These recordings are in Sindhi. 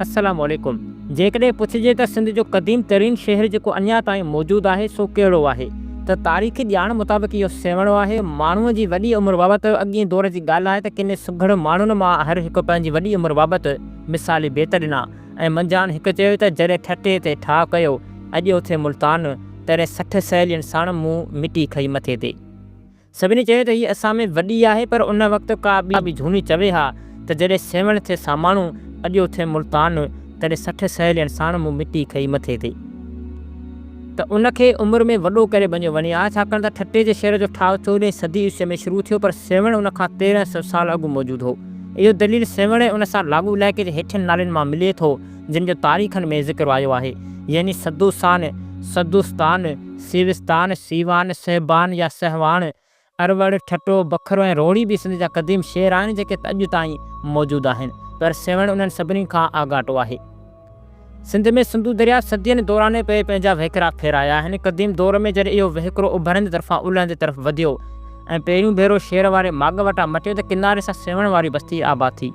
السلام عليڪم جيڪڏهن پڇجي ته سنڌ جو قديم ترين شهر جيڪو اڃا تائين موجود آهي سو ڪهڙو آهي ته تاريخي ڄاڻ مطابق اهو سيوهڻو آهي ماڻهو جي وڏي عمر بابت اڳئين دور جي ڳالهه آهي ته ڪن سگهڙ ماڻهن مان هر هڪ پنهنجي وڏي عمر بابت مثالي بيت ڏنا ۽ منجهان هڪ چيو ته جڏهن ٺٽي تي ٺاهه ڪيو اڄ اٿي ملتان تڏهن سٺ سهيلين ساڻ مون مٽي کئي مٿي تي سڀني چيو ته هيء اسان ۾ وڏي آهي پر ان وقت ڪا ٻي به جهوني چوي ها ته جڏهن سيوهڻ ٿئي ساماڻو اڏيو ٿئي ملتان تڏهن سٺ سهيلين ساڻ مون مٽي کئي مٿي تي ته ان کي عمر ۾ وڏو ڪري بنيو وڃي ها ڇاڪاڻ ته ٺٽي جي شهر جو ٺاهه چوڏهين صدي عيسويء ۾ شروع ٿيو پر سيوهڻ ان کان تيرهن سو سال اڳ موجود هو. اهو دليل سيوهڻ ۽ ان سان لاڳو علائقي جي هيٺين نالين مان ملي ٿو. جن جو تاريخن ۾ ذڪر آيو آهي، يعني سدوسان، سدوستان، سيوستان، سيوان، سهبان يا سهواڻ، اروڙ، ٺٽو، بکرو ۽ روهڙي به سنڌ جا قديم شهر آهن جيڪي ته اڄ تائين موجود آهن پر سيوهڻ انهن سڀني کان آڳاٽو آهي. سنڌ ۾ سنڌو درياء صدين دوران پئي پنهنجا وهڪرا ڦيرايا آهن. قديم دور ۾ جڏهن اهو وهڪرو اڀرندي طرفان الهندي طرف وڌيو ۽ پهريون ڀيرو شير واري ماڳ وٽان مٽيو ته ڪناري سان سيوهڻ واري بستي آباد ٿي.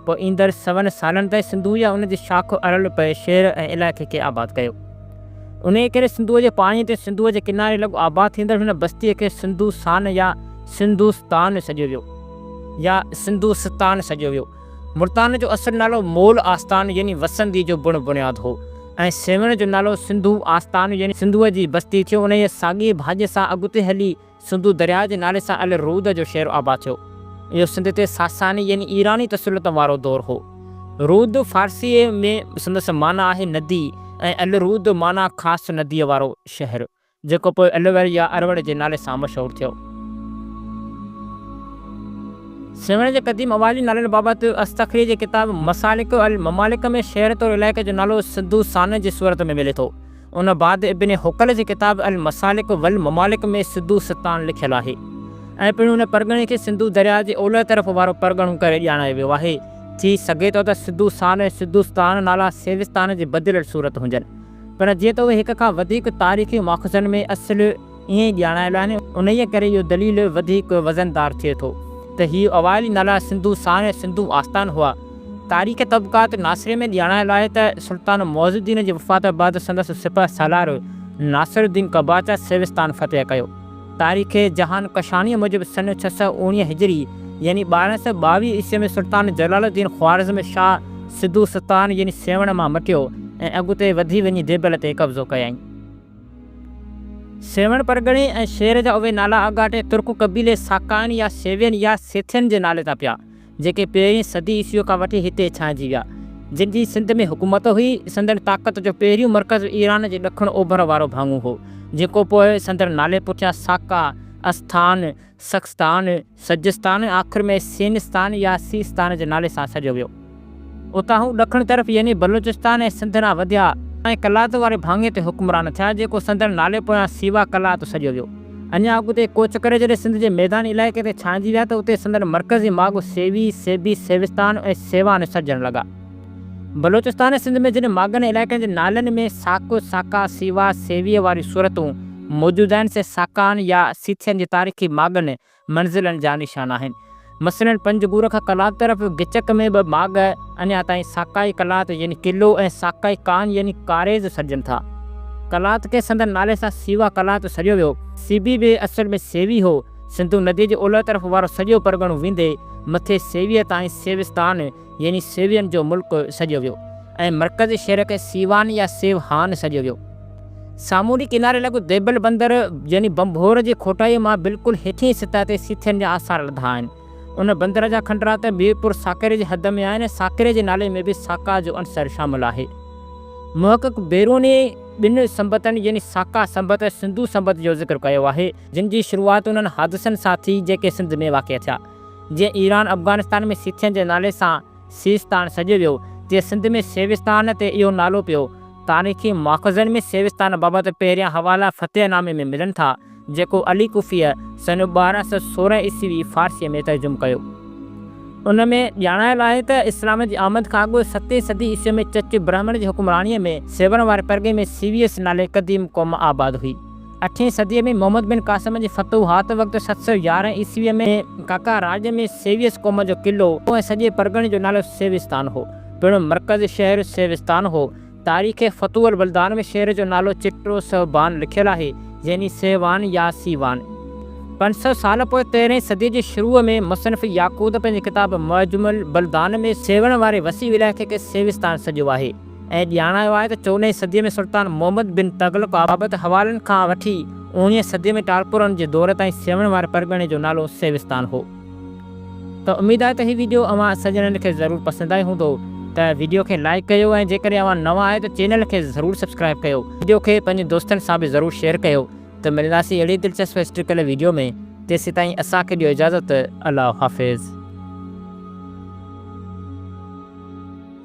پوء ايندڙ سون سالن تائين سنڌو يا ان جي شاخ ارل پئي شهر ۽ علائقي کي آباد ڪيو. انهيء ڪري سنڌوء جي پاڻيء تي سنڌوء جي ڪناري لڳ آباد ٿيندڙ هن بستيء کي سنڌوسان يا سنڌوستان سڏيو ويو يا سنڌوستان سڏيو ويو. ملتان جو اصل نالو مول آستان يعني وسندي جو بڻ بنياد هو ۽ سيوهڻ جو نالو سنڌو آستان يعني سنڌوء جي بستي ٿيو. انهيء ساڳيء ڀاڄيء سان اڳتي هلي، سنڌو درياء جي نالي سان ال رود جو شهر آباد ٿيو. اهو سنڌ تي ساساني يعني ايراني تسلط وارو دور هو. رود فارسيء ۾ سندس معنيٰ آهي ندي ۽ ال رود معنيٰ خاص نديء وارو شهر، جيڪو پوء الوڙ يا اروڙ جي نالي سان مشهور ٿيو. سيوهڻ جي قديم اوهالي نالن بابت اصطخري جي ڪتاب مسالڪ الممالڪ ۾ شهر طور علائقي جو نالو سنڌو سانه جي صورت ۾ ملي ٿو. ان بعد ابن حقل جي ڪتاب المسالڪ والممالڪ ۾ سڌو ستان لکيل آهي ۽ پڻ ان پرڳڻي کي سنڌو درياء جي اولهه طرف وارو پرڳڻو ڪري ڄاڻايو ويو آهي. ٿي سگهي ٿو ته سڌو سان ۽ سڌو ستان نالا سيوستان جي بدليل صورت هجن. پڻ جيئن ته اهي هڪ کان وڌيڪ تاريخي ماخذن ۾ اصل ائين ڄاڻايل آهن، انهيء ڪري اهو دليل وڌيڪ وزندار ٿئي ٿو ته هي اوائلي نالا سنڌو سان ۽ سنڌو آستان هئا. تاريخ طبقات ناصريه ۾ ڄاڻايل آهي ته سلطان معز الدين جي وفات بعد سندس سپهه سالار ناصر الدين قباچه سيوستان فتح ڪيو. تاريخ جهان ڪشانيء موجب سن ڇهه سؤ اوڻيهه هجري يعني ٻارهن سؤ ٻاويهه عيسوي ۾ سلطان جلال الدين خوارزم شاهه سنڌو ستان يعني سيوهڻ مان مٽيو ۽ اڳتي وڌي وڃي ديبل تي قبضو ڪيائين. سيوهڻ پرڳڻي ۽ شهر جا اهي نالا اڳاٽي ترڪ قبيلي ساڪائن يا سيوين يا سيٿين جي نالي تان پيا، جيڪي پهرين صدي عيسويء کان وٺي هتي ڇانئجي ويا. جن جي سنڌ ۾ حڪومت هئي. سندن طاقت جو پهريون مرڪز ايران جي ڏکڻ اوڀر وارو ڀاڱو هو، جيڪو پوء سندن نالي پٺيان ساڪا، اسٿان، سخستان، سجستان، آخر ۾ سينستان يا سيستان جي نالي سان سڏيو ويو. اتان هو ڏکڻ طرف يعني بلوچستان ۽ سنڌ ڏانهن وڌيا ۽ قلات واري ڀاڱي تي حڪمران ٿيا، جيڪو سندن نالي پويان سيوا قلات سڏيو ويو. اڃا اڳتي ڪوچ ڪري جڏهن سنڌ جي ميداني علائقي تي ڇانئجي ويا ته اتي سندن مرڪزي ماڳ سيوي، سيبي، سيوستان ۽ سيوان سڏجڻ لڳا. بلوچستان ۽ سنڌ ۾ جن ماڳن ۽ علائقن جي نالن ۾ ساڪو، ساڪا، سيوا، سيويء واريون صورتون موجود آهن، سي ساڪائن يا سيٿين جي تاريخي ماڳن، منزلن، جا نشان آهن. مثلاً پنج گور کان قلات طرف گچڪ ۾ ٻه ماڳ اڃا تائين ساڪائي قلات يعني قلعو ۽ ساڪائي ڪان يعني ڪاريز سڏجن ٿا. قلات کي سندن نالي سان سيوا قلات سڏيو ويو. سيبي به اصل ۾ سيوي هو. سنڌو نديء جي اولهه طرف وارو سڄو پرڳڻو ويندي مٿي سيويء تائين سيوستان، يعني سيوين جو ملڪ سڏيو ويو ۽ مرڪزي شهر کي سيوان يا سيو هان سڏيو ويو. سامونڊي ڪناري لڳ ديبل بندر يعني بنڀور جي کوٽائيء مان بلڪل هيٺئين سطح تي سيٿين جا آثار لڌا آهن. ان بندر جا کنڊرا ته ميرپور ساڪري جي حد ۾ آهن ۽ ساڪري جي نالي ۾ به ساڪا جو عنصر شامل آهي. محقق بيروني ٻن سنبتن يعني ساڪا سنبت ۽ سنڌو سنبت جو ذڪر ڪيو آهي، جن جي شروعات انهن حادثن سان ٿي جيڪي سنڌ ۾ واقع ٿيا. جنهن ايران افغانستان ۾ سيٿين جي نالي سان سيستان سڏيو ويو، تي سنڌ ۾ سيوستان تي اهو نالو پيو. تاريخي ماخذن ۾ سيوستان بابت پهريان حوالا فتح نامي ۾ ملن ٿا، جيڪو علي ڪوفيء سن ٻارهن سؤ سورهن عيسوي فارسيء ۾ ترجم ڪيو. ان ۾ ڄاڻايل آهي ته اسلام جي آمد کان اڳ ستين صدي عيسوي ۾ چچ برهمڻ جي حڪمرانيء ۾ سيوهڻ واري پرڳي ۾ سيويس نالي قديم قوم آباد هئي. اٺين صديء ۾ محمد بن قاسم جي فتوحات وقت ست سؤ يارهن عيسويء ۾ ڪاڪا راڄ ۾ سيويس قوم جو قلعو هو ۽ سڄي پرڳڻي جو نالو سيوستان هو. پڻ مرڪزي شهر سيوستان هو. تاريخ فتوح البلدان ۾ شهر جو نالو چٽرو سهبان لکيل آهي، يعني سيهوان يا سيوان. پنج سؤ سال پوء تيرهين صديء جي شروع ۾ مصنف ياقوت پنهنجي ڪتاب معجم البلدان ۾ سيوهڻ واري وسيع علائقي کي سيوستان سڏيو آهي. ائين ڄاڻايو آهي ته چوڏهين صديء ۾ سلطان محمد بن تغلق آباد حوالن کان وٺي اوڻيهين صديء ۾ ٽالپورن جي دور تائين سيوهڻ واري پرڳڻي جو نالو سيوستان هو ته اميد آهي ته هي ويڊيو اوهان سڄڻن کي ضرور پسند آئي هوندو ته ويڊيو کي لائيڪ ڪيو ۽ جيڪڏهن اوهان نوان آهيو ته چينل کي ضرور سبسڪرائيب ڪيو ويڊيو کي پنهنجن دوستن سان به ضرور شيئر ڪيو ته ملنداسين اهڙي دلچسپ هسٽريڪل ويڊيو ۾ تيسيتائين اسان کي ڏيو اجازت الله حافظ.